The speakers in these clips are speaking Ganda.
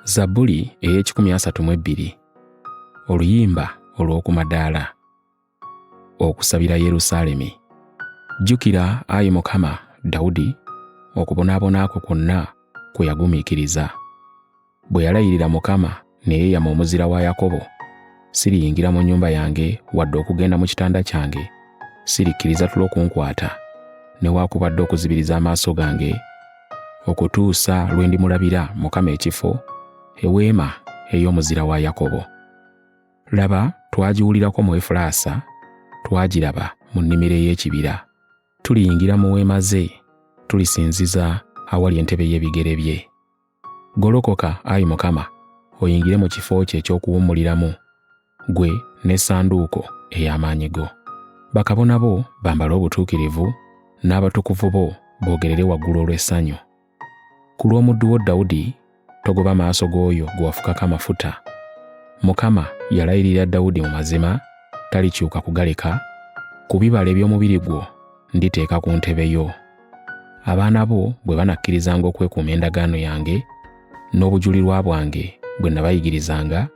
zabbuli ey'ekikumi asatu mu ebbiri oluyimba olw'oku madaala okusabira yerusaalemi jjukira ayi mukama dawudi okubonaabona kwe kwonna kwe yagumiikiriza bwe yalayirira Mukama ne yeeyama omuzira wa Yakobo, siriyingira mu nnyumba yange wadde okugenda mu kitanda kyange, sirikkiriza tulo kunkwata, newaakubadde okuzibiriza amaaso gange, okutuusa lwe ndimulabira Mukama ekifo, eweema ey'omuzira wa Yakobo. Laba, twagiwulirako mu Efulaasa, twagiraba mu nnimiro ey'ekibira. Tuliyingira mu weema ze, tulisinziza awali entebe y'ebigere bye. Golokoka, ayi Mukama, oyingire mu kifo kye eky'okuwummuliramu, ggwe n'essanduuko ey'amaanyi go. Bakabona bo bambale obutuukirivu, n'abatukuvu bo boogerere waggulu olw'essanyu. Ku lw'omuddu wo Dawudi, togoba maaso g'oyo gwe wafukako amafuta. Mukama yalayirira Dawudi mu mazima, talikyuka kugaleka, ku bibala eby'omubiri gwo nditeeka ku ntebe yo. Abaana bo bwe banakkirizanga okwekuuma endagaano yange n'obujulirwa bwange bwe nabayigirizanga,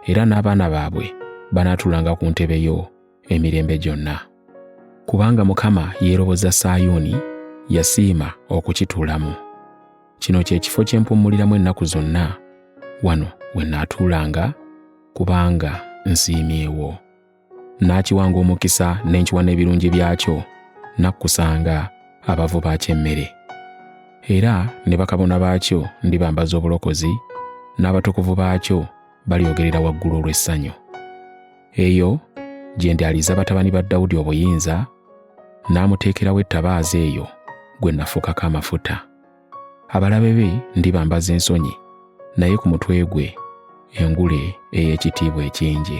era n'abaana baabwe banaatulanga ku ntebe yo emirembe gyonna. Kubanga Mukama yeeroboza Sayuuni, yasiima okukituulamu. Kino kye kifo kye mpummuliramu ennaku zonna, wano we naatuulanga, kubanga nsiimyewo. n'akiwanga omukisa n'enkiwa n'ebirungi byakyo nakkusanga abavu baakyo emmere era ne bakabona baakyo ndibambaza obulokozi n'abatukuvu baakyo balyogerera waggulu olw'essanyu eyo gye ndyaliza batabani ba dawudi obuyinza n'amuteekerawo ettabaaza eyo gwe nafuukako amafuta abalabe be ndibambaza ensonyi naye ku mutwe gwe engule ey'ekitiibwa ekingi